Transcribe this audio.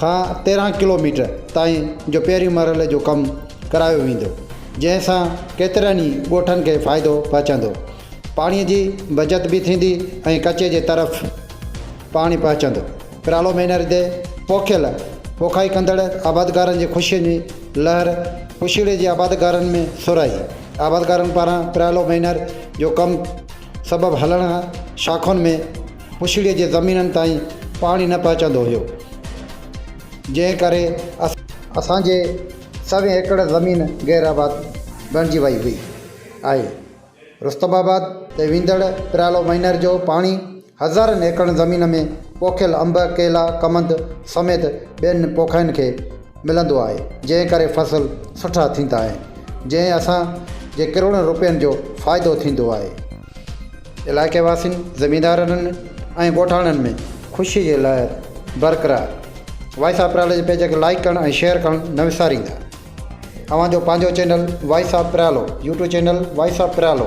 کان تيرهن ڪلوميٽر تائين جو پهرين مرحلي جو ڪم ڪرايو ويندو جنهن سان ڪيترن ئي ڳوٺن کي فائدو پهچندو پاڻي جي بچت به ٿيندي ۽ ڪچي جي طرف پاڻي پهچندو پرالو مينر تي پوکيل پوکائي ڪندڙ آبادگارن جي خوشين جي لهر پشيڙي جي آبادگارن ۾ سرهائي آبادگارن پاران پرالو مينر جو ڪم سبب هلڻ شاخن ۾ پڇڙيء جي زمينن تائين پاڻي نه پهچندو هيو، جنهن ڪري اسان. اسان جي سوين ايڪڙ زمين غير آباد بڻجي وئي هئي آهي. رستم آباد تي ويندڙ پريالو مهينر جو پاڻي هزارن ايڪڙن زمين ۾ پوکيل انب، ڪيلا، ڪمند سميت ٻين پوکائين کي ملندو آهي، جنهن ڪري فصل سٺا ٿيندا آهن، جنهن اسان جي ڪروڙن روپين جو فائدو ٿيندو آهي. علائقي واسين، زميندارن ۽ ڳوٺاڻن ۾ خوشي جي لهر برقرار. وائس آف پريالو جي پيج کي لائيڪ ڪرڻ ۽ شيئر ڪرڻ نه وساريندا. اوهان جو پنهنجو channel voice of Priyalo YouTube channel voice of Pryalo.